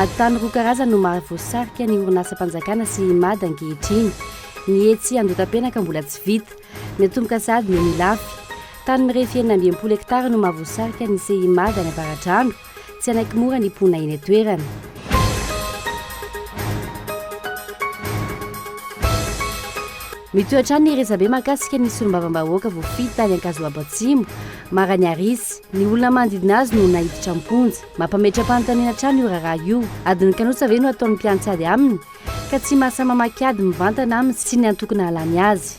Ady tany roa karazany no mahavoasarika ny orinasam-panjakana sy i Mada ankehitriny. Ny etsy Andohatapenaka mbola tsy vita. Ny atomboka sahady no milafy. Tany mirefy enina amby enimpolo hektara no mahavoasarika ny CIMADA any Avaradrano. Tsy hanaiky mora ny mponina eny an-toerana. Mitohy hatrany ny resabe mahakasika ny solombavambahoaka voafidy tany Ankazoabo Atsimo, Maraniarisy. Ny olona manodidina azy no naiditra am-ponja. Mampametra-panontaniana hatrany io raharaha io. Adin'ny kanosa ve no ataon'ny mpiantsy ady aminy? Ka tsy mahasahy mamaky ady mivantana aminy sy ny antoko nahalany azy.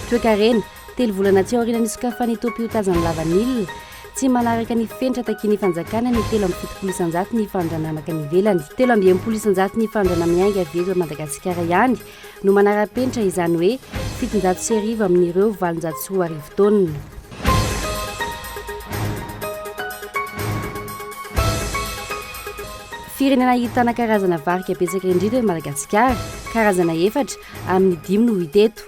Toekarena, Telo volana tsy aoriana nisokafan'ny topiotazy an'i Lavanila, tsy manaraka ny fenitra takian'ny fanjakana ny telo amby fitopolo isanjaton'ny fanondranamaka any ivelany. Telo amby enimpolo isanjaton'ny fanondranamiainga avy eto Madagasikara ihany no manara-penitra izany hoe fitonjato sy arivo amin'ireo valonjato sy roa arivo taonina. Firenena ahitana karazana varika betsaka indrindra i Madagasikara, karazana efatra amin'ny dimy no hita eto.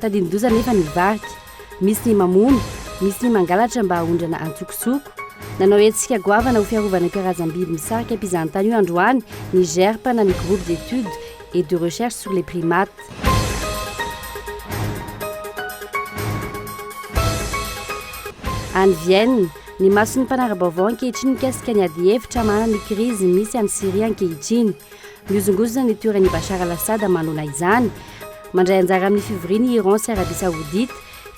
Tadidin-doza anefa ny varika. Misy ny mamono, misy ny mangalatra mba haondrana antsokosoko. Nanao hetsika goavana ho fiarovana io karazam-biby misarika mpizahatany io androany ny GERP na ny Groupe d'études et de recherche sur les primates. Any Vienne, ny mason'ny mpanara-baovao ankehitriny mikasika ny adihevitra manana ny krizy misy any Syria ankehitriny. Mihozongozona ny toeran'i Bashar al-Assad manoloana izany. Mandray anjara amin'ny fivoriana i Iran sy Arabia Saodita,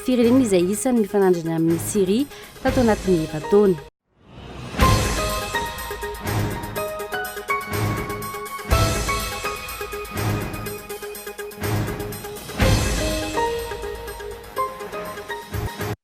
firenena izay isan'ny mifanandrina amin'i Syria, tato anatin'ny efa-taona.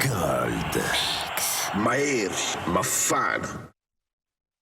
Gold. Mahery, mafana.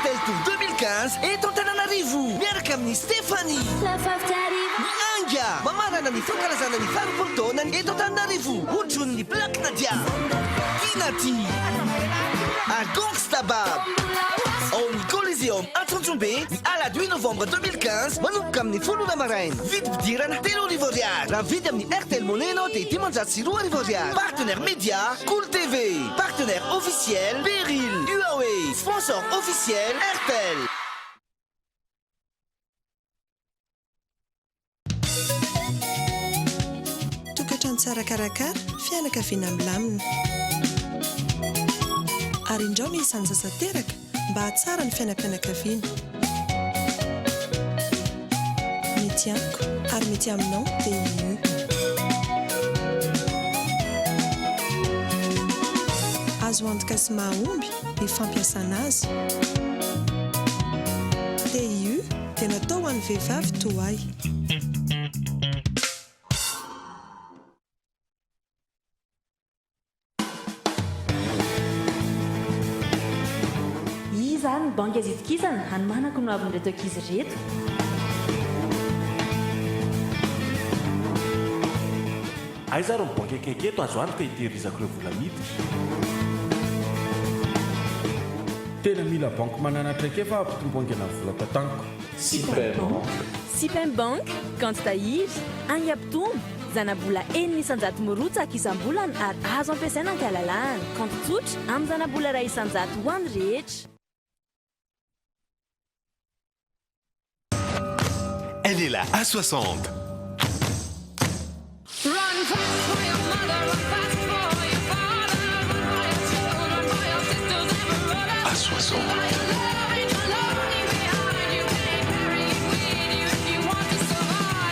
Rtl Tour 2015 eto Antananarivo miaraka amin'i Stéphanie. Ny Anga mamarana ny fankalazana ny faharo-polo taonany eto Antananarivo hotron'ny Black Nadia, Kinati, ary Gongsta Bab. Ao amin'ny Coliseum Antsonjombe ny alahady huit novembre 2015 manomboka amin'ny folo ora maraina. Vidim-pidirana telo arivo ariary. Raha mividy amin'ny Rtl Money ianao dia dimanjato sy roa arivo ariary. Partenaire Media Cool TV. Partenaire officiel, Beryl, Huawei, Sponsor officiel, Airtel. Tokantrano tsara karakara, fianakaviana milamina. Ary indrao ny isan'ny sasa teraka? mba hahatsara ny fiainam-pianakaviana. Mety amiko ary mety aminao dia io. Azo antoka sy mahomby ny fampiasana azy. TIU dia natao ho an'ny vehivavy toa ahy. Iza ary ny banky azo itokisana hanomanako ny hoavin'ireto ankizy ireto? Aiza ary ny banky akaiky eto azo antoka hitehirizako ireo vola miditra? Tena mila banky manana traikefa hampitombo haingana ny vola tataniko. Sipem Bank. Sipem Bank, kaonty tahiry, hainga mpitombo. Zanabola enina isan-jato mirotsaka isam-bolana ary azo ampiasaina an-kalalahana. Kaonty tsotra, amin'ny zanabola iray isan-jato ho an'ny rehetra. Elle est la A 60.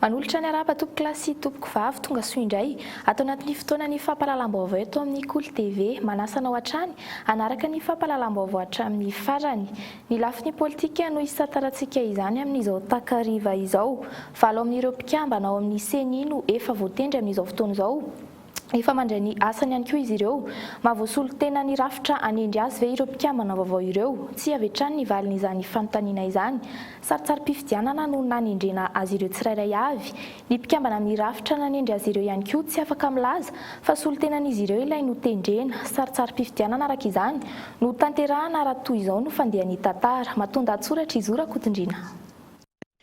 Manolotra ny harapa tompokolahy sy tompoko vavy tonga soa indray, ato anatin'ny fotoanan'ny fampahalalam-baovao eto amin'ny Kolo TV, manasa anao hatrany hanaraka ny fampahalalam-baovao hatramin'ny farany. Ny lafiny politika no hisantarantsika izany amin'izao takariva izao. Valo amin'ireo mpikambana ao amin'ny ceni no efa voatendry amin'izao fotoana izao. Efa mandray ny asany ihany koa izy ireo. Mahavoasolo tena ny rafitra hanendry azy ve ireo mpikambana vaovao ireo? Tsia avy hatrany ny valin'izany fanontaniana izany. Sarintsarim-pifidianana no nanendrena azy ireo tsirairay avy. Ny mpikambana amin'ny rafitra nanendry azy ireo ihany koa tsy afaka milaza fa solontenan'izy ireo ilay notendrena. Sarintsarim-pifidianana araka izany no tanterahana raha toy izao no fandehan'ny tantara. Matoa-dahatsoratra i Zo Rakotondriana.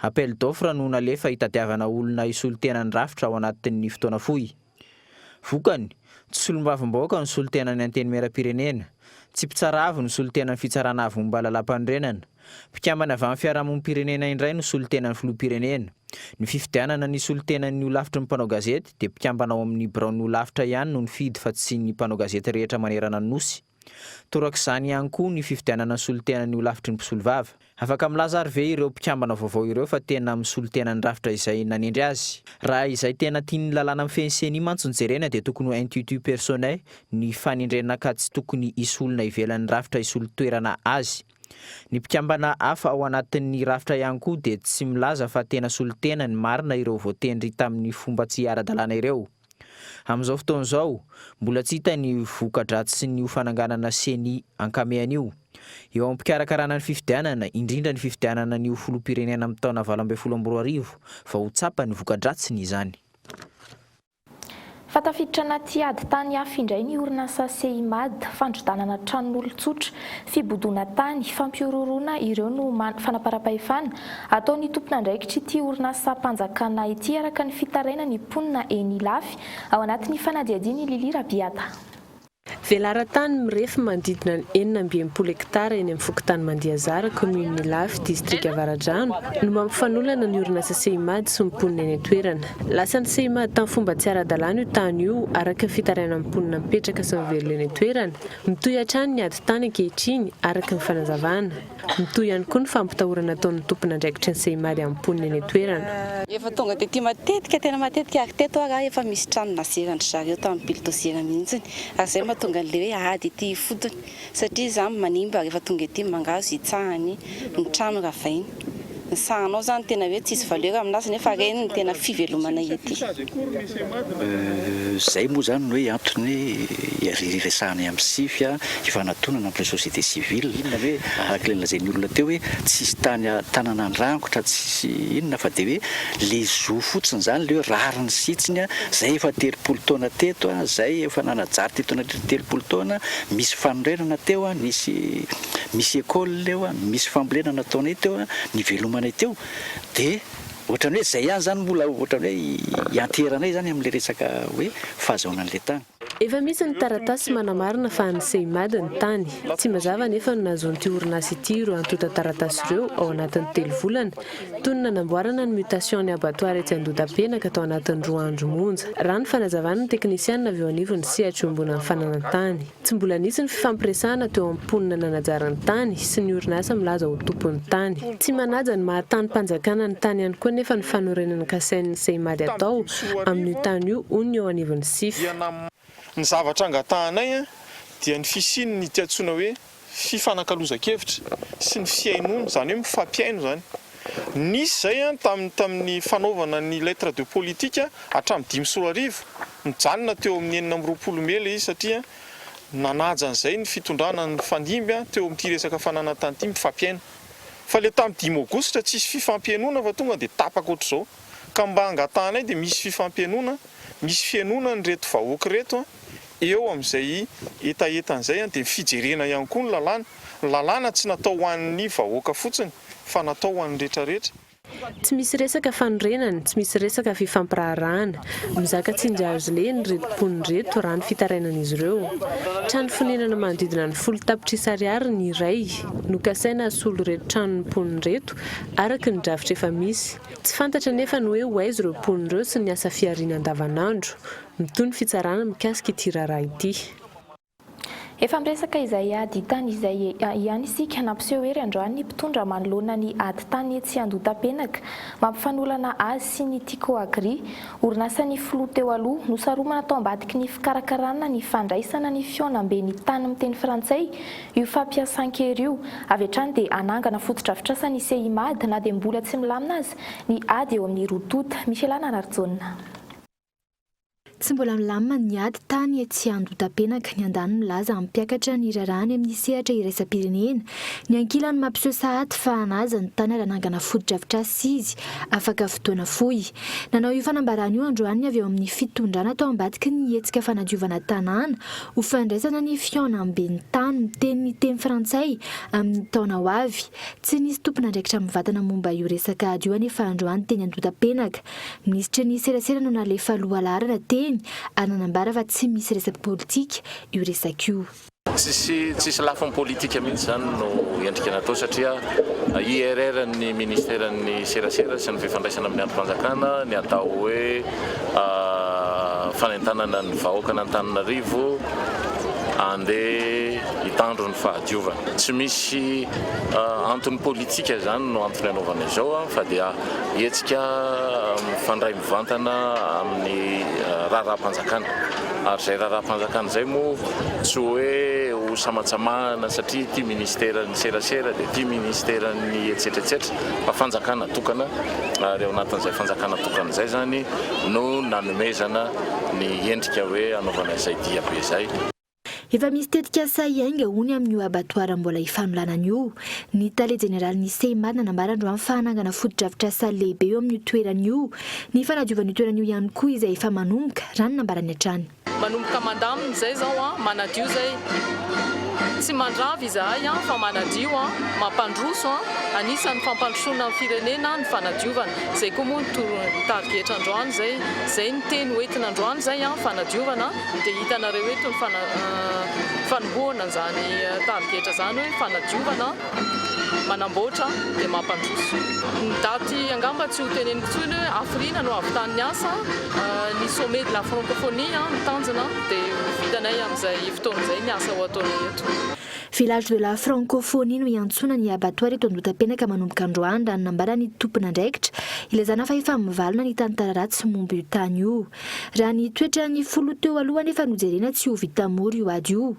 Appel d'offre no nalefa hitadiavana olona hisolo tena ny rafitra ao anatin'ny fotoana fohy. Vokany, tsy solombavambahoaka no solo tenan'ny Antenimierampirenena, tsy mpitsara avo no solo tenan'ny Fitsarana Avo Momba ny Lalàmpanorenana, mpikambana avy amin'ny fiarahamonim-pirenena indray no solo tenan'ny Filoham-pirenena. Ny fifidianana ny hisolo tenan'ny holafitry ny mpanao gazety dia mpikambana ao amin'ny biraon'ny holafitra ihany no nifidy fa tsy ny mpanao gazety rehetra manerana ny Nosy. Torak'izany ihany koa ny fividianana ny solontena ny holafitry ny mpisolovava. Afaka milaza ary ve ireo mpikambana vaovao ireo fa tena misolontena ny rafitra izay nanendry azy? Raha izay tena tian'ny lalàna mifehy ny ceni mantsy no jerena dia tokony ho intitut personnel ny fanendrena ka tsy tokony hisy olona ivelan'ny rafitra hisolo toerana azy. Ny mpikambana hafa ao anatin'ny rafitra ihany koa dia tsy milaza fa tena solontena ny marina ireo voatendry tamin'ny fomba tsy ara-dalàna ireo. Amin'izao fotoana izao, mbola tsy hita ny voka-dratsin'io fananganana ceni ankamehana io. Eo am-pikarakarana ny fifidianana, indrindra ny fifidianana ny ho filoham-pirenena amin'ny taona valo ambin'ny folo amby roa arivo, vao ho tsapa ny voka-dratsiny izany. Fa tafiditra anaty ady tany hafa indray ny orinasa CIMAD, fandrodanana tranon'olon-tsotra, fibodoana tany, fampihorohoroana ireo no man, fanaparam-pahefana, Ataon'ny tompon'andraikitr'ity orinasam-panjakana ity araka ny fitarainan'ny mponina eny Ilafy, ao anatin'ny fanadihadiany i Lily Rabiata. Velaran-tany mirefy manodidina ny enina amby enimpolo hektara eny amin'ny fokontany Mandiazara, kaominina Ilafy, distrika Avaradrano, no mba mifanolana ny orinasa Seimad sy ny mponina eny an-toerana. Lasan'ny Seimad tamin'ny fomba tsy ara-dalàna io tany io, araka ny fitarainan'ny mponina mipetraka sy mivelona eny an-toerana. Mitohy hatrany ny ady tany ankehitriny, araka ny fanazavana. Mitohy ihany koa ny fampitahorana ataon'ny tompon'andraikitry ny Sehimaly amin'ny mponina eny an-toerana. Efa tonga tety matetika, tena matetika ary teto ary efa misy trano nazeran-dry zareo tamin'ny bildoziera mihitsiny ary izay no mahatonga an'ilay hoe ady ety ifotony satria izany manimba rehefa tonga ety mangahazo hitsahany ny trano ravainy. Ny sahanao zany tena hoe tsisy valeur aminazy nefa reny no tena fivelomanay ety. Zay moa zany no hoe antony iresahanay am sify hifanatonana am le société civile araka le nolazain'ny olona teo hoe tsisy tany tanana andrangotra tsisy inona fa de hoe le zo fotsiny zany le hoe rariny sitsiny zay efa telopolo taona teto zay efa nanajaty teto nandritra ny telopolo taona misy fanorenana teo nisy misy école eo an, misy fambolena nataonay teo an, nivelomanay teo, dia ohatran'ny hoe izay ihany izany mbola ohatran'ny hoe ianteheranay izany amin'ilay resaka hoe fahazahoana an'ilay tany. Efa misy ny taratasy manamarina fa an'ny CIMAD ny tany. Tsy mazava anefa no nahazoan'ity orinasa ity ireo antontan-taratasy ireo ao anatin'ny telo volana, toy ny nanamboarana ny mutation ny abattoir etsy Andohatapenaka tao anatin'ny roa andro monja, raha ny fanazavan'ny teknisianina avy eo anivon'ny sehatr'iombonan'ny fananantany. Tsy mbola nisy ny fifampiresahana teo amin'ny mponina nanajara ny tany sy ny orinasa milaza ho tompon'ny tany. Tsy manaja ny maha tanim-panjakana ny tany ihany koa anefa ny fanorenana kasain'ny Ceimad atao amin'io tany io, hoy ny eo anivon'ny Sif. Ny zavatra angatahanay dia ny fisian'ity antsoina hoe fifanakalozan-kevitra sy ny fihainoana, izany hoe mifampihaino izany. Nisy izay tamin'ny tamin'ny fanaovana ny lettre de politique hatramin'ny dimy sy roa arivo. Nijanona teo amin'ny enina amby roapolo mey ilay izy satria nanaja an'izay ny fitondrana nifanimby teo amin'ity resaka fananantany ity mifampihaino. Fa ilay tamin'ny dimy aogositra tsisy fifampihainoana fa tonga dia tapaka ohatr'izao. Ka mba angatahanay dia misy fifampihainoana, misy fihainoana an'ireto vahoaka ireto eo amin'izay hetahetany izay dia ny fijerena ihany koa ny lalàna. Ny lalàna tsy natao ho an'ny vahoaka fotsiny fa natao ho an'ny rehetrarehetra. Tsy misy resaka fanorenana, tsy misy resaka fifampiraharahana. Mizaka tsinjo azo lehiny ireto mponina ireto raha ny fitarainan'izy ireo. Trano fonenana manodidina ny folo tapitrisa ariary ny iray no kasaina hasolo ireto tranon'ny mponina ireto, araka ny drafitra efa misy. Tsy fantatra anefa ny hoe ho aiza ireo mponina ireo sy ny asa fihariana andavanandro. Mitohy ny fitsarana mikasika ity raharaha ity. Efa miresaka izay ady tany izay ihany isika. Nampiseho hery androany ny mpitondra manoloana ny ady tany etsy Andohatapenaka, mampifanolana azy sy ny Ticoagri, orinasan'ny filoha teo aloha. Nosaromana tao ambadiky ny fikarakarana ny fandraisana ny fihaonamben'ny tany miteny frantsay io fampiasan-kery io. Avy hatrany dia hanangana fotodrafitrasa ny CIMAD na dia mbola tsy milamina aza ny ady eo amin'ny roa tonta. Micheal Anararijaona. Tsy mbola milamina ny ady tany etsy Andotapenaka, ny andaniny milaza hampiakatra ny raharaany amin'ny sehatra iraisam-pirenena, ny ankilany mampiseho sahady fa hanaja ny tany raha hanangana fotodrafitrasa izy afaka fotoana fohy. Nanao io fanambarana io androany ny avy eo amin'ny fitondrana tao ambadiky ny hetsika fanadiovana tanàna ho fandraisana ny fihaonamben'ny tany miteny teny frantsay amin'ny taona ho avy. Tsy nisy tompon'andraikitra mivantana momba io resaka ady io anefa androany teny Andotapenaka. Minisitra ny serasera no nalefa lohalaharana teny ary nanambara fa tsy misy resaky politika io resaka io. Tsisy tsisy lafiny politika mihitsy izany no endrika natao satria IRR-n'ny Ministeran'ny serasera sy ny fifandraisana amin'ny andrim-panjakana ny atao hoe fanentanana ny vahoakan'Antananarivo handeha hitandro ny fahadiovana. Tsy misy antony politika izany no antony anaovana izao fa dia. Hetsika mifandray mivantana amin'ny raharaham-panjakana, ary izay raharaham-panjakana izay moa tsy hoe ho samatsamahana satria ity minisiteran'ny serasera dia ity minisiteran'ny etsetretsetra fa fanjakana tokana ary ao anatin'izay fanjakana tokana izay izany no nanomezana ny endrika hoe hanaovana izay diabe izay. Efa misy tetikasa hiainga hono amin'io abattoir mbola hifanolanana io. Ny tale jeneralin'ny CIMAD nanambara androany fa hanangana fotodrafitrasa lehibe eo amin'io toerana io. Ny fanadiovan'io toerana io ihany koa izay efa manomboka, raha ny nambarany hatrany. Manomboka mandamina izay izao an, manadio izay. Tsy mandrava izahay an, fa manadio an, mampandroso an, anisan'ny fampandrosoana ny firenena ny fanadiovana. Izay koa moa no tarigetra androany izay. Izay ny teny hoentina androany izay an, fanadiovana. Dia hitanareo eto ny fanombohana an'izany tarigetra izany hoe fanadiovana, manamboatra dia mampandroso. Ny daty angamba tsy ho teneniko intsony hoe hafiriana no havitan'ny asa, ny sommet de la francophonie no tanjona dia ho vitanay amin'izay fotoana izay ny asa ho ataonay eto. Village de la francophonie no iantsoana ny abattoir eto Andohatapenaka manomboka androany raha ny nambaran'ny tompon'andraikitra ilazana fa efa mivalona ny tantara ratsy momba io tany io. Raha ny toetran'ny filoha teo aloha anefa no jerena tsy ho vita mora io ady io.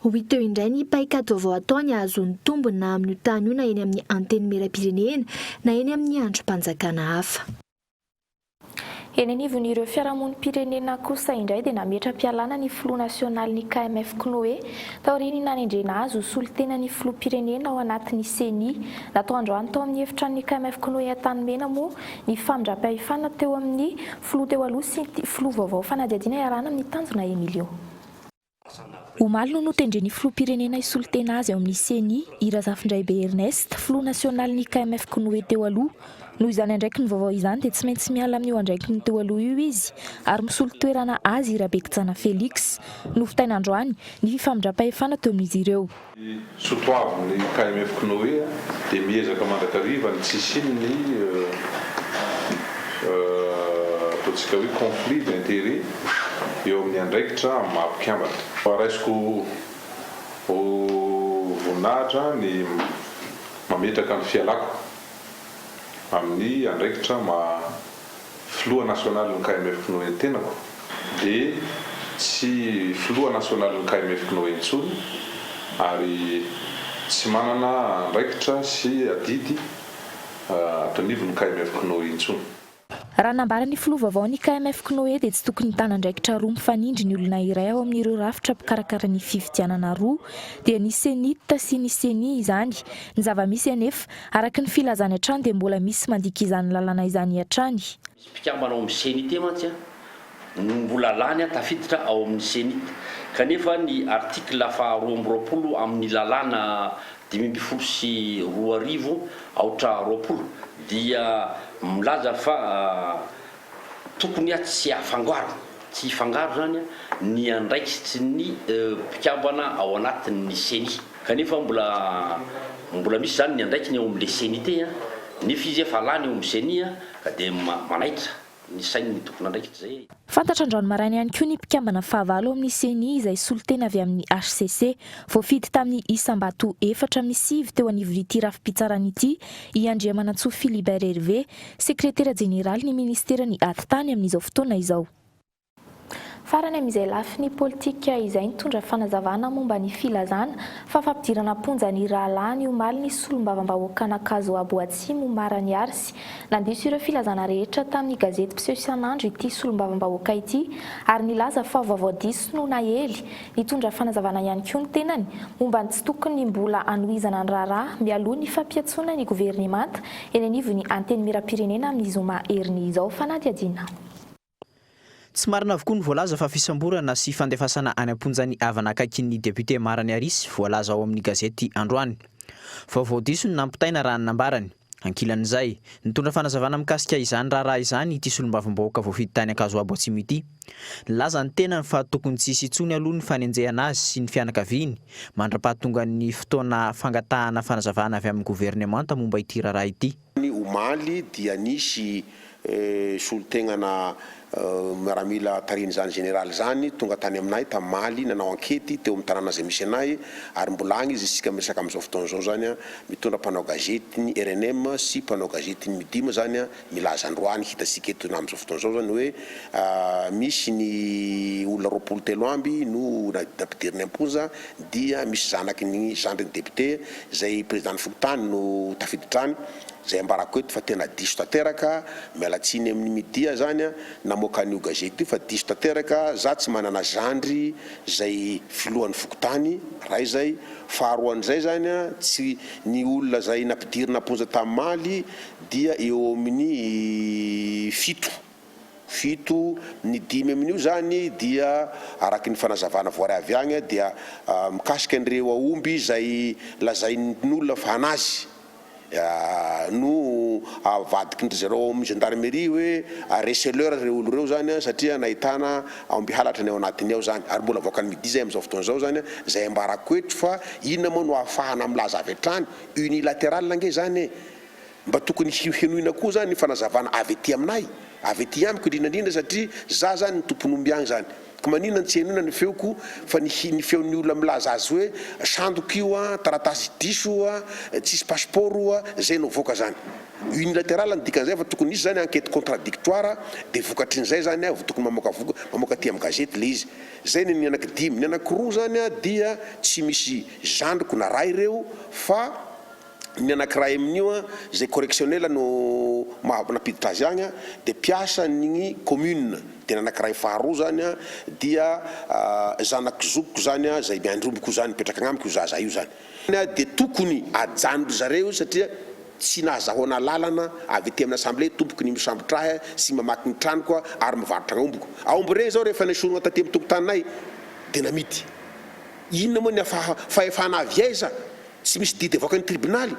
Ho hita eo indray ny paikady vaovao ataony hahazoany tombony na amin'io tany io na eny amin'ny Antenimierampirenena na eny amin'ny andrim-panjakana hafa. Eny anivon'ireo fiarahamonim-pirenena kosa indray dia nametra-pialana ny filoha nasionalin'ny KMF Knoe taorian'ny nanendrena azy ho solontenan'ny filoham-pirenena ao anatin'ny Ceni. Natao androany tao amin'ny efitranon'ny KMF Knoe Antanimena moa Ny famindram-pahefana teo amin'ny filoha teo aloha sy ity filoha vaovao fanadihadiana iarahana amin'ny tanjona Emilio. Omaly no notendren'ny filoham-pirenena hisolo tena azy ao amin'ny Ceni, i Razafindraibe Ernest, filoha nasionalin'ny KMF Konoe teo aloha. Noho izany andraikiny vaovao izany dia tsy maintsy miala amin'io andraikiny teo aloha io izy ary misolo toerana azy i Rabekijana Felix. Novitaina androany ny fifamindram-pahefana teo amin'izy ireo. Ny soatoavin'ny KMF Knoe dia miezaka mandrakariva ny tsy hisian'ny ataontsika hoe conflit d'intérêt eo amin'ny andraikitra amin'ny maha mpikambana. Raisiko ho voninahitra ny mametraka ny fialako amin'ny andraikitra maha Filoha nasionalin'ny KMF Pnoe ny tenako dia tsy filoha nasionalin'ny KMF Pnoe intsony ary tsy manana andraikitra sy adidy ato anivon'ny KMF Pnoe intsony. Raha ny nambaran'ny filoha vaovao ny KMF Pnoe dia tsy tokony hitana andraikitra roa mifanindry ny olona iray ao amin'ireo rafitra mpikarakara ny fifidianana roa dia ny Cenit sy ny Ceni izany. Ny zava-misy anefa Araka ny filazany hatrany dia mbola misy mandika izany lalàna izany hatrany. Mpikambana ao amin'ny CENI-T mantsy no mbola lany tafiditra ao amin'ny CENI-T, kanefa ny article faha roa amby roapolo amin'ny lalàna dimy ambin'ny folo sy roa arivo aotra roapolo dia milaza fa tokony tsy hafangaro, tsy hifangaro izany ny andraikitry ny mpikambana ao anatin'ny CENI. Kanefa mbola mbola misy izany ny andraikiny eo amin'ilay ceni te a, nefa izy efa lany eo amin'ny ceni a, ka dia manaitra ny sain'ny tompon'andraikitra izay. Fantatra androany maraina ihany koa ny mpikambana fahavalo ao amin'ny ceni izay solontena avy amin'ny hcc. Voafidy tamin'ny isam-bato efatra amin'ny sivy teo anivon'ity rafi-pitsarana ity i Andriamanantsoa Philibert Hervé, sekretera jeneralin'ny ministeran'ny Atitany amin'izao fotoana izao. Farany amin'izay lafiny politika izay nitondra fanazavana momba ny filazana fa fampidirana am-ponja ny rahalahiny omaly ny solombavambahoakan'Ankazo Abo Atsimo Omar Aniarsy. Nandiso ireo filazana rehetra tamin'ny gazety mpiseho isan'andro ity solombavambahoaka ity ary nilaza fa vaovao diso no naely. Nitondra fanazavana ihany koa ny tenany momba ny tsy tokony mbola anohizana ny raharaha mialoha ny fampiantsoana ny governemanta eny anivon'ny Antenimierampirenena amin'ny zoma heriny izao fanadihadiana. Tsy marina avokoa ny voalaza fa fisamborana sy fandefasana any am-ponja ny havana akaikin'ny député Mara Niarisy voalaza ao amin'ny gazety androany. Vaovao diso ny nampitaina raha ny nambarany. Ankilan'izay, nitondra fanazavana mikasika izany raharaha izany ity solombavambahoaka voafidy tany Ankazoabo Atsimo ity. Nilaza ny tenany fa tokony tsy hisy intsony aloha ny fanenjehana azy sy ny fianakaviany mandrapahatongan'ny fotoana fangatahana fanazavana avy amin'ny governemanta momba ity raharaha ity. Tany omaly dia nisy solontenana miaramila tarihin'izany Jeneraly izany tonga tany aminay tamaly nanao ankety teo amin'ny tanàna izay misy anay ary mbola agny izy isika miresaka amin'izao fotoana izao izany an, mitondra mpanao gazetin'ny rnm sy mpanao gazetin'ny Midim izany an, milaza androany hitatsika eto na amin'izao fotoana izao izany hoe misy ny olona roapolo telo amby no nampidiriny am-ponja. dia misy zanaky ny zandry ny député izay président ny fokontany no tafiditra any, izay ambarako eto fa tena diso tanteraka, miala tsiny amin ny media zany a namoaka an io gazety io fa diso tanteraka, za tsy manana zandry izay filohan ny fokontany, ray izay, faharoan izay zany a tsy ny olona izay nampidirina am ponja tam maly dia eo amin ny fito. fito, ny dimy amin'io izany dia araka ny fanazavana voaray avy agny dia mikasika an'ireo aomby izay lazain'olona fa anazy no avadikin-dry zareo ao amin'ny gendarmerie hoe receleurs ireo olo ireo izany satria nahitana aomby halatra ny ao anatiny ao izany ary mbola avoakan'ny media izay amin'izao fotoana izao izany izay ambarako eto fa inona moa no ahafahana milaza avy hatrany unilateral ange izany e! Mba tokony henoina koa zany fanazavana avy aty aminay, avy aty amiko indrindra indrindra satria za zany ny tompon'omby agny zany ko maninona no tsy henoina ny feoko fa ny ny feon'ny olona milaza azy hoe sandoka io an, taratasy diso io an, tsisy passeport io an, zay no avoaka zany. Unilateral ny dikan'izay fa tokony hisy zany enquête contradictoire de vokatrin'izay zany vao tokony mamoaka voka mamoaka aty amin'ny gazety le izy. Zay ny an'ny anaky dimy, ny anaky roa zany dia tsy misy zandriko na ray reo fa Ny anankiray amin'io an, izay correctionnel no maha nampiditra azy agny an, dia mpiasan'ny commune, dia ny anankiray faharoa zany an, dia zanak'i zokiko zany an, izay miandry omby koa zany, mipetraka agnamiko io zaza io zany. Dia tokony ajanony ry zareo io satria tsy nahazahoana alalana avy aty amin'ny assemblée tompoko ny misambotra ahy sy mamaky ny tranoko ary mivarotra aombiko. Aomby regny zao rehefa nesorina taty amin'ny tokotaninay dia namidy. Inona moa ny fahefana avy aiza Tsy misy didy avoakan'ny tribonaly.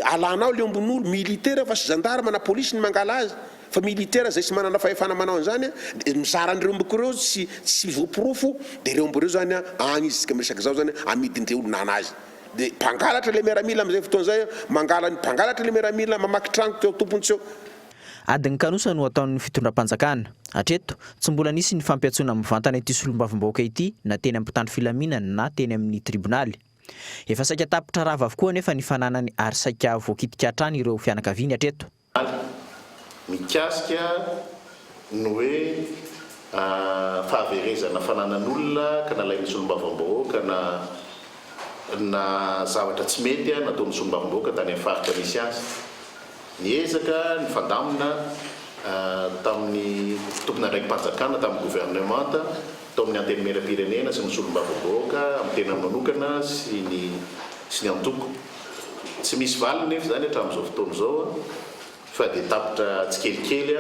Alanao le ombon'olo. Militaire fa sy gendarme na police ny mangala azy. Fa militaire zay sy manana fahefana manao an'izany an. Dia mizara an'ireo ombiko ireo tsy tsy voaporofo. Dia ireo omby ireo zany an, agny izy isika miresaka zao zany an, amidin-dre olona an'azy. Dia mpangalatra le miaramila amin'izay fotoana izay an. Mangala ny mpangalatra le miaramila, mamaky tragno teo tompony teo. Adin'ny kanosa no ataon'ny fitondram-panjakana. Hatreto, tsy mbola nisy ny fampiantsoana mivantana ity solombavambahoaka ity na teny amin'ny mpitandro filaminana na teny amin'ny tribonaly. Efa saika tapitra rava avokoa anefa ny fananany ary saika voakitika hatrany ireo fianakaviany hatreto. Ary mikasika ny hoe fahaverezana fananan'olona ka nalain'ny solombavambahoaka na na zavatra tsy mety nataon'ny solombavambahoaka tany amin'ny faritra misy azy. Niezaka nifandamina tamin'ny tompon'andraiki-panjakana, tamin'ny governemanta, tao amin'ny Antenimierampirenena sy ny Solombavambahoaka amin'ny tenany manokana sy ny sy ny antoko. Tsy misy valiny nefa izany hatramin'izao fotoana izao fa dia tapitra tsikelikely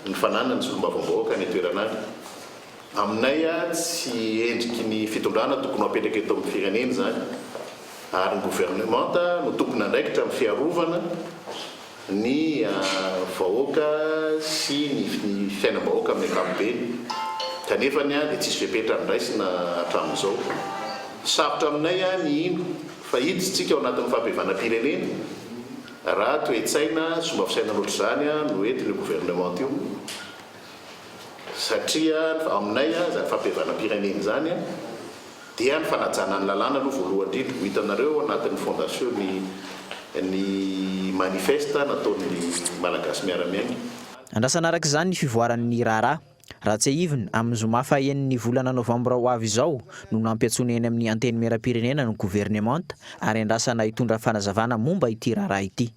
ny fananan'ny Solombavambahoaka any an-toerana any. Aminay tsy endriky ny fitondrana tokony ho apetraka eto amin'ny firenena izany ary ny governemanta no tompon' andraikitra amin'ny fiarovana ny vahoaka sy ny fiainam-bahoaka amin'ny ankapobeny kanefa ny dia tsisy fepetra noraisina hatramin'izao. Sarotra aminay ny hino fa hiditsintsika ao anatin'ny fampihavanam-pirenena raha toe-tsaina sy fomba fisainana ohatr'izany no entin'io governemanta io. Satria aminay izany fampihavanam-pirenena izany dia ny fanajana ny lalàna aloha voalohany indrindra. Ho hitanareo ao anatin'ny fondation ny ny manifeste nataon'ny Malagasy miara-miaina. Andrasana araka izany ny fivoaran'ny raharaha. Raha tsiahivina, amin'ny zoma fahaenin'ny volana novambra ho avy izao no nampiantsoina eny amin'ny Antenimierampirenena ny governemanta ary andrasana hitondra fanazavana momba ity raharaha ity.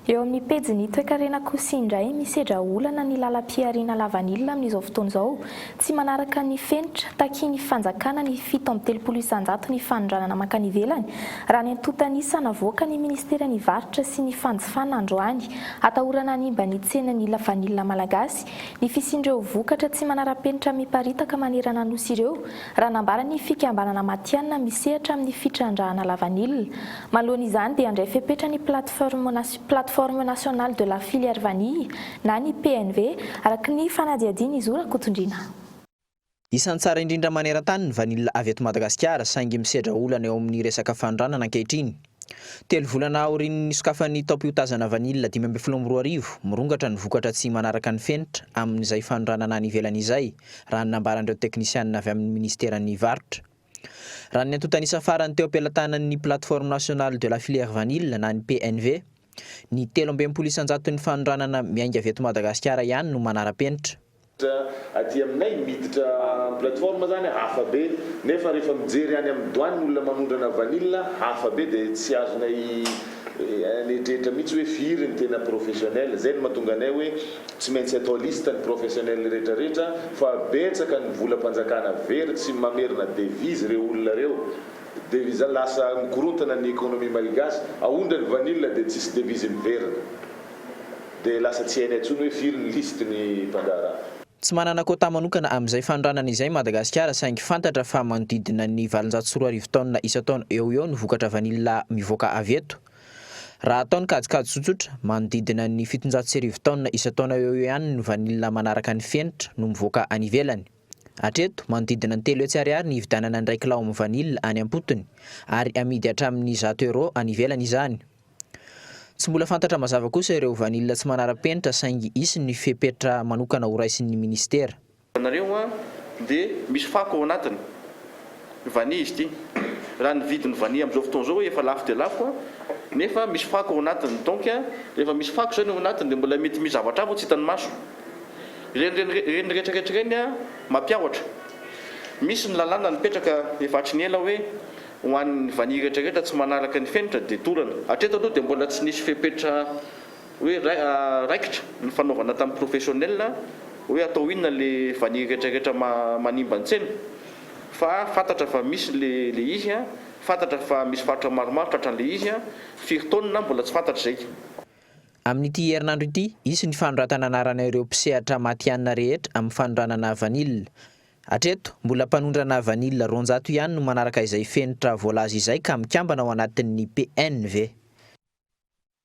Eo amin'ny pejin'ny toekarena kosa indray, misedra olana ny lalam-pihariana lavanila amin'izao fotoana izao, tsy manaraka ny fenitra, takian'ny fanjakana ny fito amby telopolo isanjato ny fanondranana mankany ivelany, raha ny antontan'isa navoaka ny ministeran'ny varotra sy ny fanjifana androany. Atahorana hanimba ny tsenan'ny lavanila malagasy ny fisian'ireo vokatra tsy manara-penitra miparitaka manerana Nosy ireo, raha nambaran'ny fikambanana matihanina misehatra amin'ny fitrandrahana lavanila. Manoloana izany dia handray fepetra ny Plateforme Plateforme Nationale de la Filière Vanille na ny PNV, araka ny fanadihadian'i Zo Rakotondriana. Isan'ny tsara indrindra maneran-tany ny vanille avy eto Madagasikara saingy misedra olana eo amin'ny resaka fanondranana ankehitriny. Telo volana aorian'ny nisokafan'ny taom-piotazana vanille dimy ambin'ny folo amby roa arivo, mirongatra ny vokatra tsy manaraka ny fenitra amin'izay fanondranana any ivelany izay, raha ny nambaran'ireo teknisianina avy amin'ny minisiteran'ny varotra. Raha ny antontan'isa farany teo am-pelatanan'ny Plateforme Nationale de la Filière Vanille na ny PNV, ny telo amby enimpolo isan-jaton'ny fanondranana miainga avy eto Madagasikara ihany no manara-penitra. Aty aminay miditra plateforme zany hafa be nefa rehefa mijery any amin'ny douane ny olona manondrana vanille hafa be dia tsy azonay anetretra mihitsy hoe firy ny tena professionnel. Zay no mahatonga anay hoe Tsy maintsy atao liste ny professionnels rehetra rehetra fa betsaka ny volam-panjakana very tsy mamerina devise reo olona reo devise lasa mikorontana ny economie malgache aondra ny vanille de tsisy devise miverina de lasa tsy hainay tsony oe firy ny liste ny mpandraharaha. Tsy manana quota manokana amin'izay fanondranana izay Madagasikara saingy fantatra fa manodidina ny valonjato sy roa arivo tonnes isan-taona eo ho eo ny vokatra vanille mivoaka avy eto. Raha atao ny kajikajy tsotsotra, manodidina ny fitonjato sy arivo taonina isan-taona eo ho eo ihany ny vanila manaraka ny fenitra no mivoaka any ivelany. Hatreto, manodidina ny telo hetsy ariary ny hividianana indray kilaomy vanila any am-potony, ary amidy hatramin'ny zato euros any ivelany izany. Tsy mbola fantatra mazava kosa ireo vanila tsy manara-penitra saingy hisy ny fepetra manokana horaisin'ny minisitera. Hitanareo an, dia misy fako ao anatiny. Vanille izy ity. Raha ny vidin'ny vanille amin'izao fotoana izao hoe efa lafo dia lafo an, nefa misy fako ao anatiny. Donc, rehefa misy fako izany ao anatiny dia mbola mety misy zavatra hafa tsy hitan'ny maso. Ireny ireny ireny rehetra rehetra ireny an, mampiahotra. Misy ny lalàna nipetraka efa hatry ny ela hoe ho an'ny vanille rehetra rehetra tsy manaraka ny fenitra dia dorana. Hatreto aloha dia mbola tsy nisy fepetra Hoe raikitra ny fanaovana tamin'ny professionnel hoe atao inona le vanille rehetra rehetra manimba ny tsena? Fa fantatra fa misy le le izy a, fantatra fa misy faritra maromaro tratran'le izy a, firy taonina mbola tsy fantatra izay. Amin'ity herinandro ity, hisy ny fanoratana anarana ireo mpisehatra matihanina rehetra amin'ny fanondranana vanille. Hatreto, mbola mpanondrana vanille roanjato ihany no manaraka izay fenitra voalaza izay ka mikambana ao anatin'ny PNV.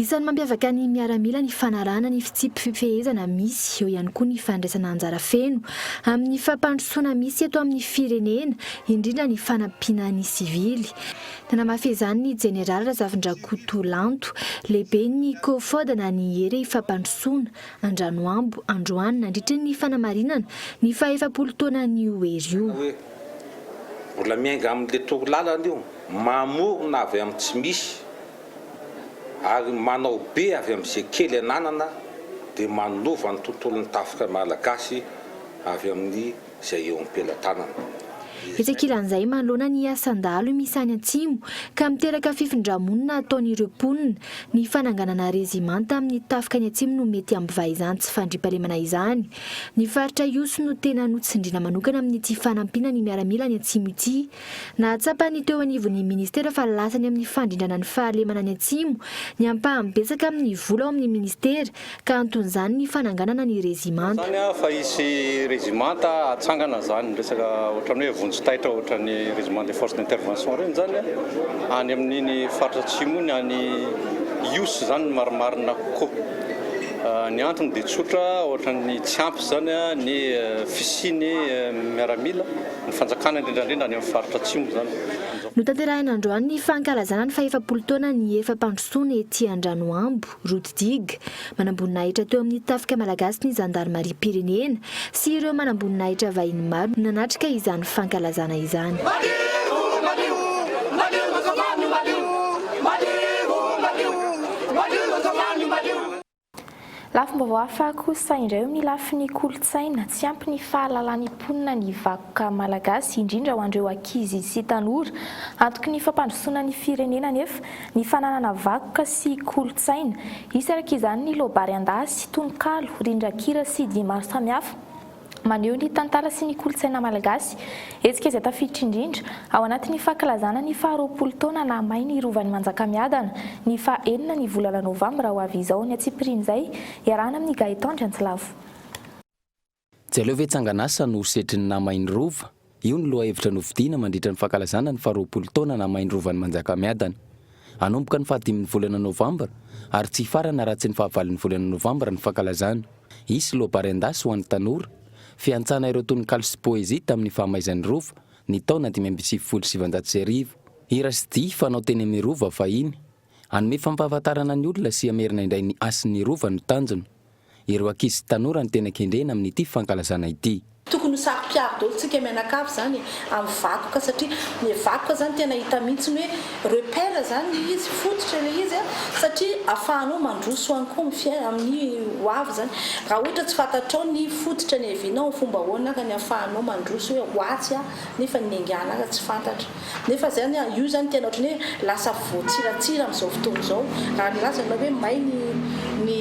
Isan'ny mampiavaka ny miaramila ny fanarahana ny fitsipi-pifehezana misy, eo ihany koa ny fandraisana anjara feno amin'ny fampandrosoana misy eto amin'ny firenena, indrindra ny fanampiana ny sivily. Nanamafy izany ny Jeneraly Razafindrakoto Lanto, lehiben'ny Cofod na ny Hery Fampandrosoana, Andranoambo, androany, nandritra ny fanamarinana ny fahaefapolo taonan'io hery io. Hoe mbola miainga amin'ilay toro lalana io, mamorona avy amin'ny tsy misy. ary manao be avy amin'izay kely ananana dia manova ny tontolon'ny tafika malagasy avy amin'ny izay eo am-pelatanana. Etsy ankilan'izay manoloana ny asan-dahalo misy any Atsimo ka miteraka fifindra-monina ataon'ireo mponina, ny fananganana rezimanta amin'ny tafika any Atsimo no mety hampivaha izany tsy fandriampahalemana izany. Ny faritra Ihosy no tena notsindriana manokana amin'ity fanampiana ny miaramila any Atsimo ity. Nahatsapa ny teo anivon'ny Ministera fa lasa ny amin'ny fandrindrana ny fahalemana any Atsimo ny ampahany betsaka amin'ny vola ao amin'ny Ministera ka anton'izany ny fananganana ny rezimanta. Izany fa hisy rezimanta hatsangana izany resaka ohatran'ny hoe vonjy taitra ohatran'ny Régiment des Forces d'Intervention ireny izany any amin'iny faritra Atsimo iny, any Ihosy izany ny marimarina kokoa. Ny antony dia tsotra, ohatran'ny tsy ampy izany ny fisian'ny miaramila. Ny fanjakana indrindra indrindra any amin'ny faritra atsimo izany. Notanterahina androany ny fankalazana ny fahefapolo taona ny efa-pandrosoana ety Andranoambo, Rododig. Manamboninahitra teo amin'ny tafika malagasy ny zandarimariam-pirenena sy ireo manamboninahitra vahiny maro no nanatrika izany fankalazana izany. Lafim-baovao hafa kosa indray eo amin'ny lafiny kolontsaina, tsy ampy ny fahalalan'ny mponina ny vakoka malagasy, indrindra ho an'ireo ankizy sy tanora. Antoky ny fampandrosoana ny firenena anefa ny fananana vakoka sy kolontsaina. Isarak'izany ny loa-bary an-dahy sy tononkalo, rindran-kira sy dihy maro samihafa. Maneho ny tantara sy ny kolontsaina malagasy. Hetsika izay tafiditra indrindra ao anatin'ny fankalazana ny faharoapolo taona naha may ny Rovan'i Manjakamiadana, ny faha enina ny volana novambra ho avy izao ny antsipirian'izay, iarahana amin'i Gaëtan Drantilavo. Tsy aleo ve Tsanganasa no ho setrin'ny naha may ny Rova? Io no lohahevitra nofidiana mandritra ny fankalazana ny faharoapolo taona namain'ny Rovan'i Manjakamiadana. Hanomboka ny fahadimin'ny volana novambra ary tsy hifarana raha tsy ny fahavalon'ny volana novambra ny fankalazana. Hisy loabary an-dasy ho an'ny tanora, fiantsana ireo tononkalo sy poezia tamin'ny fahamaizan'ny Rova ny taona dimy amby sivifolo sy sivinjato sy arivo. Hira sy dihy fanao teny amin'ny Rova fahiny. Hanome fampahafantarana ny olona sy hamerina indray ny hasin'ny Rova no tanjona. Ireo ankizy sy tanora no tena kendrena amin'ity fankalazana ity. Tokony ho saro-piaro daholo tsika mianakavy zany amin'ny vakoka satria le vakoka zany tena hita mihitsy ny hoe repère zany le izy, fototra le izy satria afahanao mandroso any koa amin'ny amin'ny ho avy zany. Raha ohatra tsy fantatrao ny fototra niavianao, fomba ahoana ary ny afahanao mandroso hoe ho atsy aho nefa niaingàna ary tsy fantatra. Nefa zany a, io zany tena ohatrany hoe lasa voatsiratsira amin'izao fotoana izao, raha nilaza ianao hoe may ny ny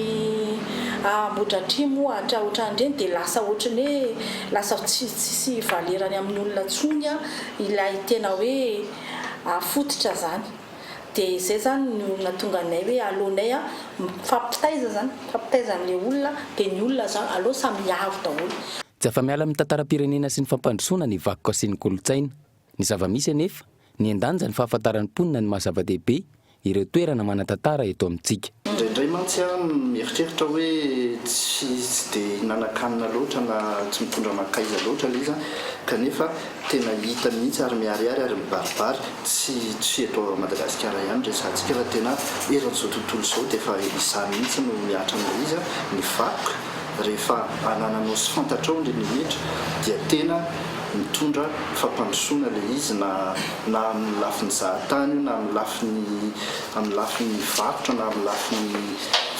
Ambohidratrimo ohatra ohatran'ireny dia lasa ohatrany hoe lasa tsy tsisy valerany amin'ny olona intsony a ilay tena hoe fototra zany. Dia izay zany no nahatonga anay hoe aleonay a mifampitaiza zany, mifampitaiza an'ilay olona dia ny olona zany aleo samy hiaro daholo. Tsy afa-miala amin'ny tantaram-pirenena sy ny fampandrosoana ny vakoka sy ny kolontsaina. Ny zava-misy anefa, nihen-danja ny fahafantaran'ny mponina ny maha-zava-dehibe ireo toerana manan-tantara eto amintsika. Indraindray mantsy aho mieritreritra hoe tsy tsy dia hihinan-kanina loatra na tsy mitondra mankaiza loatra ilay izy an, kanefa tena hita mihitsy ary miharihary ary mibaribary, tsy tsy eto Madagasikara ihany ny resahantsika fa tena eran'izao tontolo izao dia efa izany mihitsy no mihatra an'ilay izy an, ny vakoka. rehefa anananao sy fantatrao ny limitra dia tena mitondra fampandrosoana ilay izy na na amin'ny lafiny zahatany io na amin'ny lafiny amin'ny lafiny varotra na amin'ny lafiny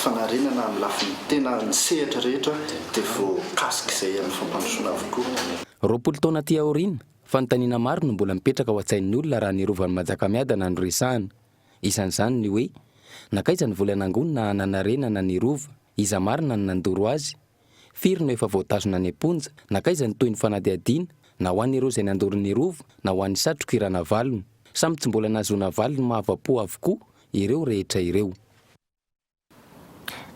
fanariana na amin'ny lafiny tena ny sehatra rehetra dia voakasika izay amin'ny fampandrosoana avokoa. Roapolo taona aty aoriana, fanontaniana maro no mbola mipetraka ao an-tsain'ny olona raha ny Rovan'i Manjakamiadana no resahana. Isan'izany ny hoe, Nankaiza ny vola nangonina hananarenana ny Rova? Iza marina no nandoro azy? Firy no efa voatazona any am-ponja? Nankaiza ny tohin'ny fanadihadiana, na ho an'ireo izay nandoro ny Rova, na ho an'i Satriko i Ranavalona? Samy tsy mbola nahazoana valiny mahavapo avokoa ireo rehetra ireo.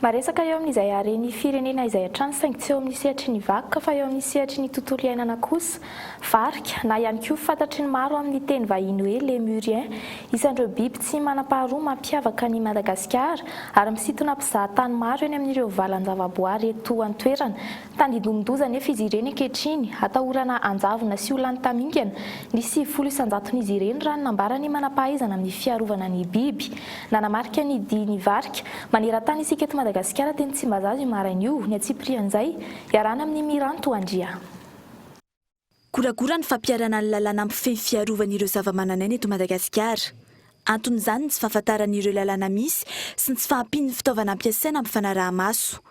Maresaka eo amin'izay haren'ny firenena izay hatrany saingy tsy eo amin'ny sehatry ny vakoka fa eo amin'ny sehatry ny tontolo iainana kosa, varika, na ihany koa fantatry ny maro amin'ny teny vahiny hoe Lémurien, isan'ireo biby tsy manam-paharoa mampiavaka an'i Madagasikara ary misintona mpizahatany maro eny amin'ireo valan-javaboary eto an-toerana. Tandindomin-doza anefa izy ireny ankehitriny, atahorana hanjavona sy ho lany tamingana. Nisy sivifolo isan-jaton'izy ireny, raha ny nambaran'ny manam-pahaizana amin'ny fiarovana ny biby. Nanamarika ny dihin'ny varika. Maneran-tany isika eto Madagasikara teny Tsimbazaza io maraina io, ny antsipirihan'izay, iarahana amin'ny Miranto Andria. Goragora ny fampiharana ny lalàna mpifehy ny fiarovana ireo zavamananaina eto Madagasikara. Anton'izany ny tsy fahafantarana ireo lalàna misy sy ny tsy fahampian'ny fitaovana ampiasaina amin'ny fanaraha-maso.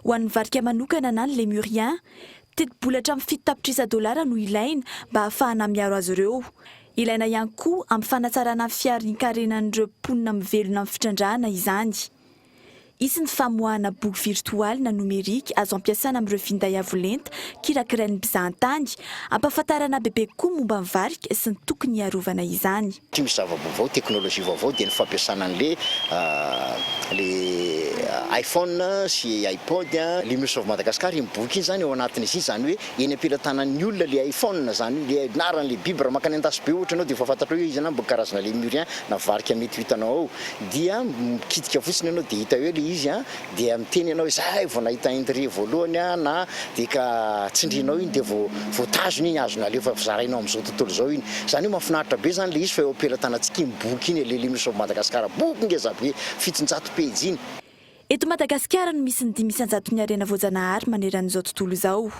Ho an'ny varika manokana na ny Lémurien, tetibola hatramin'ny fito tapitrisa dolara no ilaina mba hahafahana miaro azy ireo. Ilaina ihany koa amin'ny fanatsarana ny fiharian-karenan'ireo mponina mivelona amin'ny fitrandrahana izany. Hisy ny famoahana boky virtoaly na nomerika azo ampiasana amin'ireo finday avo lenta kirakirain'ny mpizahantany, hampahafantarana bebe kokoa ny momba ny varika sy ny tokony hiarovana izany. Ity misy zava-baovao, teknolojia vaovao dia ny fampiasana an'ilay ilay iPhone sy iPod. Ilay Mioso avy Madagasikara, iny boky iny izany ao anatin'izy iny, izany hoe. eny am-pelatanan'ny olona le iPhone zany le anarany le biby raha makany an-dasy be ohatra ianao de efa fantatrao hoe iza na mba karazana lemurien na varika mety ho hitanao ao dia mikitika fotsiny ianao de hita eo le izy a dia miteny ianao hoe zay vao nahita indry voalohany aho na de ka tsindrinao iny de vao vao tazony iny azony alefa vao zarainao am'zao tontolo zao iny zany hoe mahafinaritra be zany le izy fa eo am-pelatanantsika iny boky iny e le lemurs of Madagascar boky ngeza be fitonjato pejy iny. Eto Madagasikara no misy ny dimy isan-jaton'ny harena voajanahary maneran'izao tontolo izao.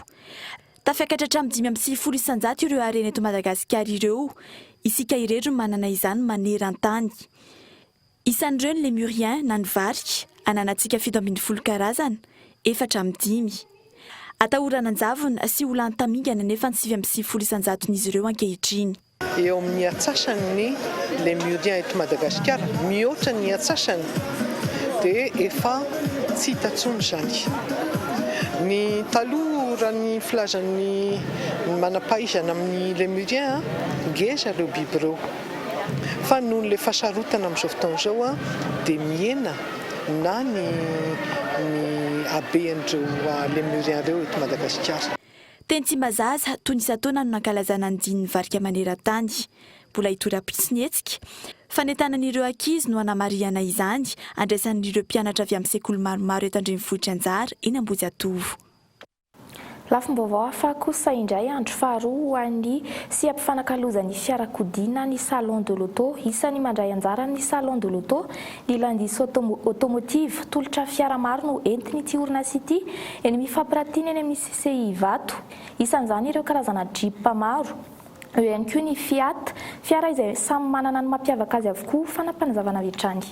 Tafakatra hatramin'ny dimy amby sivifolo isan-jato ireo harena eto Madagasikara ireo, isika irery no manana izany maneran-tany. Isan'ireo ny Lémurien na ny varika, ananantsika fito ambin'ny folo karazana, efatra amin'ny dimy. Atahorana an-javona sy ho lany tamingana anefa ny sivy amby sivifolo isan-jaton'izy ireo ankehitriny. Eo amin'ny atsasany ny Lemuriens eto Madagasikara, mihoatra ny atsasany dia efa tsy hita intsony izany. Ny taloha raha ny filazan'ny manam-pahaizana amin'ny Lemuriens, ngeza ireo biby ireo fa noho ilay fahasarotana amin'izao fotoana izao dia mihena na ny haben'ireo Lemuriens ireo eto Madagasikara. Teny Tsimbazaza, tony isan-taona no nankalazana ny dinin'ny varika maneran-tany. Mbola hitohy rahampitso ny hetsika. Fanentanan'ireo ankizy no hanamarihana izany, andraisan'ireo mpianatra avy amin'ny sekoly maromaro eto an-drenivohitra anjara eny Ambohijatovo. Lafim-baovao hafa kosa indray andro faharoa ho an'ny seha-pifanakalozan'ny fiarakodia na ny Salon de l'Auto. Isan'ny mandray anjara amin'ny Salon de l'Auto Ny Landis Automotive, tolotra fiara maro no entin'ity orinasa ity, eny amin'ny fampiratiana eny amin'ny CCI Ivato. Isan'izany ireo karazana Jeep maro. Eo ihany koa ny Fiat, fiara izay samy manana ny mampiavaka azy avokoa, fanapanazavana avy hatrany.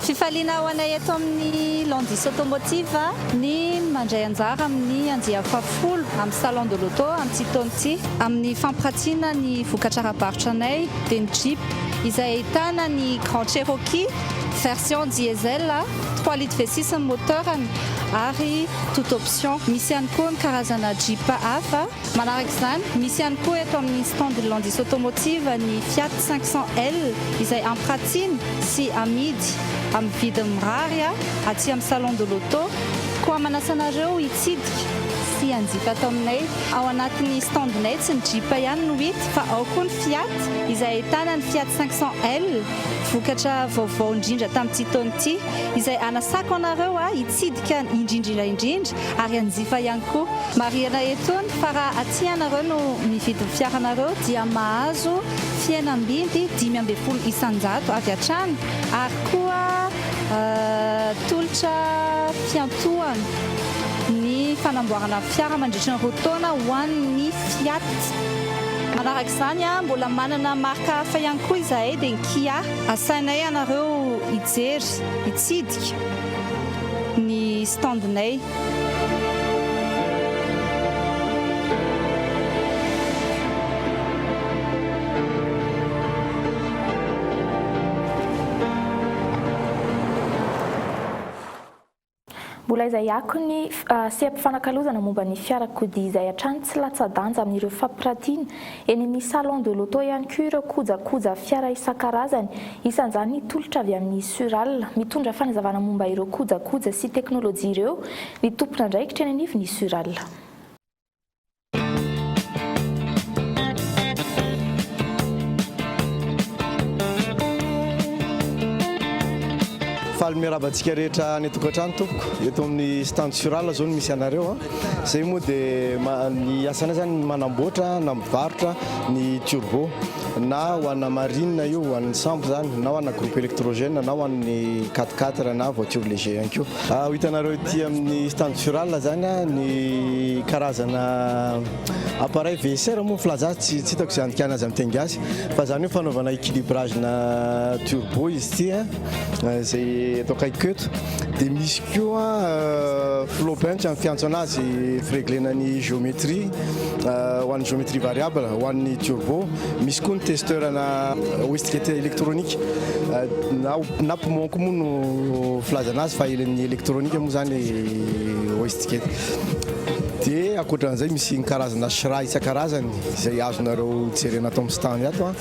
Fifaliana ho anay eto amin'ny Landis Automotive ny mandray anjara amin'ny andiany fahafolo amin'ny Salon de l'Auto amin'ity taona ity amin'ny fampiratiana ny vokatra ara-barotranay dia ny Jeep izay ahitana ny Grand Cherokee version diesel trois litres v six ny moteur-ny ary toute option. Misy ihany koa ny karazana Jeep hafa. Manaraka izany, misy ihany koa eto amin'ny stand Landis Automotive ny Fiat cinq cents L izay ampiratina sy amidy amin'ny vidiny mirary aty amin'ny Salon de l'Auto. Koa manasa anareo hitsidika sy hanjifa ato aminay. Ao anatin'ny stand-nay tsy ny Jeep ihany no hita fa ao koa ny Fiat izay ahitana ny Fiat cinq cents L vokatra vaovao indrindra tamin'ity taona ity izay anasako anareo Mitsidika an i Ndrindrila indrindra ary an'i Zifa ihany koa. Marihina eto ny fa raha aty ianareo no mividy ny fiaranareo dia mahazo fihenam-bidy dimy ambin'ny folo isan-jato avy hatrany ary koa tolotra fiantohana ny fanamboarana fiara mandritry ny roa taona ho an'ny Fiat. Manaraka izany mbola manana marika hafa ihany koa izahay dia ny Kia. Asainay ianareo hijery. Nitsidika ny stand-nay. Mbola izay akony seha-pifanakalozana momba ny fiarakodia izay hatrany tsy latsa-danja amin'ireo fampiratiana, eny amin'ny salon de l'auto ihany koa ireo kojakoja fiara isan-karazany, isan'izany ny tolotra avy amin'ny Sural. Mitondra fanazavana momba ireo kojakoja sy teknolojia ireo ny tompon'andraikitra eny anivon'ny Sural. Faly miarahaba antsika rehetra any an-tokantrano tompoko. Eto amin'ny stand Surala zao no misy anareo. Izay moa dia ny asanay zany ny manamboatra na mivarotra ny turbo na ho ana marine io, ho an'ny sambo zany na ho ana groupe électrogène na ho an'ny quatre quatre na voiture léger ihany koa. Ho hitanareo ety amin'ny stand Fural izany ny karazana appareil VSR moa ny filaza azy, tsy hitako izay andikana azy amin'ny teny gasy fa izany hoe fanaovana équilibrage-na turbo izy ity izay eto akaikiko eto. Dia misy koa flow bench ny fiantso an'azy fireglena ny géométrie ho an'ny géométrie variable ho an'ny turbo. Misy koa ny testeur-na Westgate Electronic na na Pmonk moa no filazana azy fa ny elektronika moa zany Westgate. Dia ankoatra an'izay misy ny karazana shra isan-karazany izay azonareo jerena ato amin'ny stand ato a.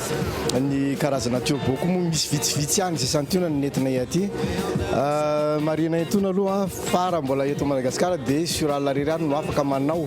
Ny karazana turbo koa moa misy vitsivitsy ihany izay santionany ny entinay aty. Marihina intoana aloha fa raha mbola eto Madagasikara dia sur Alariary no afaka manao.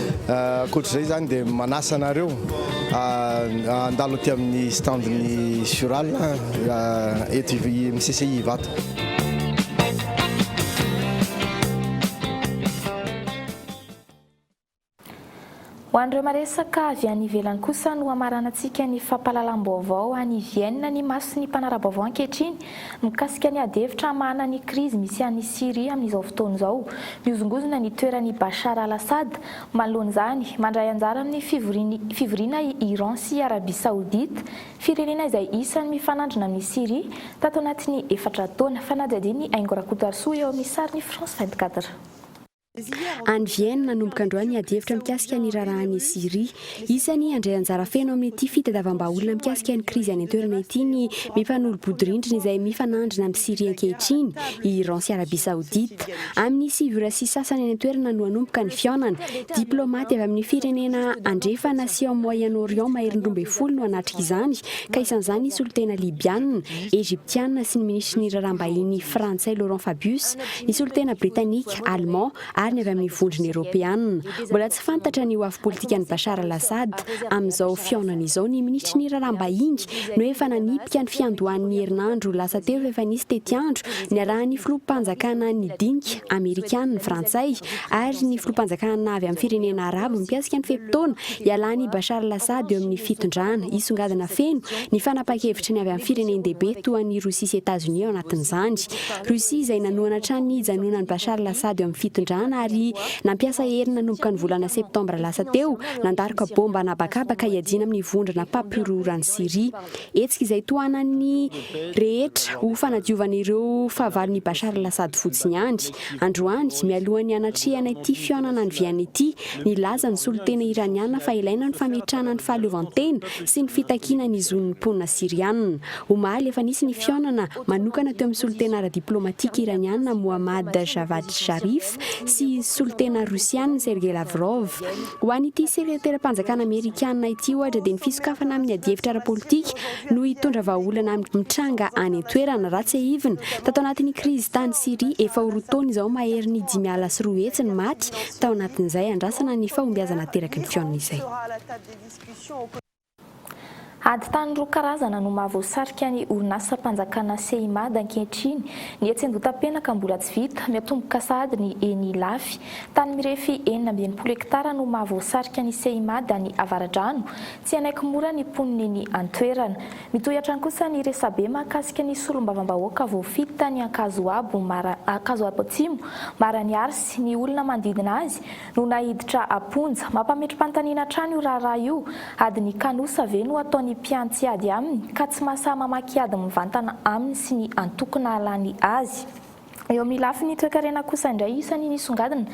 Ankoatra izay izany dia manasa anareo handalo aty amin'ny standin'ny Sural eto amin'ny CCI Ivato. Ho an'ireo maresaka avy any ivelany kosa no hamaranantsika ny fampahalalam-baovao any Vienne ny mason'ny mpanara-baovao ankehitriny Mikasika ny adihevitra hamahana ny krizy misy any Syria amin'izao fotoana izao, mihozongozona ny toeran'i Bashar al-Assad, manoloana izany, mandray anjara amin'ny fivorian'ny fivoriana i Iran sy Arabia Saodita, firenena izay isan'ny mifanandrina amin'i Syria, tato anatin'ny efatra taona, fanadihadian'i Aingo Rakotoarisoa eo amin'ny sarin'i France vingt-quatre. Any Vienne, manomboka androany ny adihevitra mikasika ny raharaha any Syria. Isany handray anjara feno amin'ity fitadiavam-bahaolona mikasika ny krizy any an-toerana ity ny mifanolo-bodirindrina izay mifanandrina amin'i Syria ankehitriny, i Iran sy Arabia Saodita. Amin'ny sivy ora sy sasany any an-toerana no hanomboka ny fihaonana. Diplaomaty avy amin'ny firenena andrefana sy ao Moyen-Orient maherin'ny roa ambin'ny folo no hanatrika izany, ka isan'izany ny solontena Libiana, Egyptiana sy ny minisitry ny raharaham-bahiny Frantsay Laurent Fabius. Ny solontena britanika, alemà ary ny avy amin'ny vondrona eropeanina. Mbola tsy fantatra ny ho avy politikan'i Bashar al-Assad amin'izao fihaonana izao. Ny minisitry ny Raharaham-bahiny no efa nanipika ny fiandohany ny herinandro lasa teo fa efa nisy tetiandro niarahan'ny filoham-panjakana nidinika amerikana, ny frantsay ary ny filoham-panjakana avy amin'ny firenena arabo mikasika ny fe-potoana hialan'i Bashar al-Assad eo amin'ny fitondrana. Hisongadina feno ny fanapahan-kevitra ny avy amin'ny firenen-dehibe toa an'i Rosia sy Etazonia ao anatin'izany. Russie izay nanohana hatrany ny hijanonan'i Bashar al-Assad eo amin'ny fitondrana ary nampiasa hery nanomboka ny volana septambra lasa teo nandaroka baomba an'habakabaka hiadiana amin'ny vondrona mpampihorohoro any Syria. Hetsika izay tohanan'ny rehetra ho fanadiovana ireo fahavalon'i Bashar al-Assad fotsiny ihany. Androany, mialoha ny hanatrehana ity fihaonana any Vienne ity, nilaza ny solontena Iraniana fa ilaina ny fametrahana ny fahaleovantena sy ny fitakiana ny zon'ny mponina Syriana. Omaly, efa nisy ny fihaonana manokana teo amin'ny solontena ara-diplaomatika Iraniana Mohammad Javad Zarif sy solontena Rosiana Sergei Lavrov. Ho an'ity sekreteram-panjakana Amerikana ity ohatra dia ny fisokafana amin'ny adihevitra ara-politika no hitondra vahaolana amin'ny mitranga any an-toerana. Raha tsiahivina, tato anatin'ny krizy tany Syria efa ho roa taona izao maherin'ny dimy ala sy roa hetsy ny maty tao anatin'izay andrasana ny fahombiazana ateraky ny fihaonana izay. Ady tany roa karazana no mahavoasarika ny orinasam-panjakana Ceimad ankehitriny. Ny etsy Andotapenaka mbola tsy vita, miatomboka sahady ny eny Ilafy. Tany mirefy enina amby enimpolo hektara no mahavoasarika ny Ceimad any Avaradrano. Tsy hanaiky mora ny mponina eny an-toerana. Mitohy hatrany kosa ny resabe mahakasika ny solombavambahoaka voafidy tany Ankazoabo Atsimo, Maraniary sy ny olona manodidina azy. no naiditra am-ponja. Mampametri-panontaniana hatrany io raharaha io, adin'ny kanosa ve no ataon'ny mpiantsy ady aminy ka tsy mahasahy mamaky ady mivantana aminy sy ny antoko nahalany azy? Eo amin'ny lafiny toekarena kosa indray isany nisongadina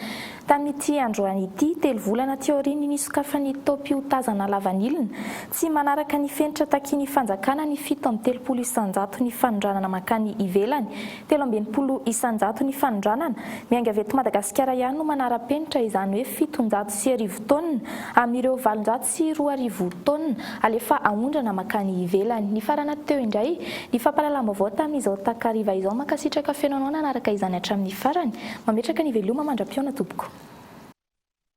tamin'ity androany ity, telo volana aty aorian'ny nisokafan'ny taom-piotazana lavanilina tsy manaraka ny fenitra takian'ny fanjakana ny fito amby telopolo isan-jaton'ny fanondranana mankany ivelany, Telo amby enimpolo isan-jato ny fanondranana. Miainga avy eto Madagasikara ihany no manara-penitra izany hoe fiton-jato sy arivo taonina amin'ireo valonjato sy roa arivo taonina alefa aondrana mankany ivelany. Nifarana teo indray ny fampahalalam-baovao tamin'izao takariva izao. Mankasitraka feno anao nanaraka izany hatramin'ny farany. Mametraka ny veloma mandra-pihaona tompoko.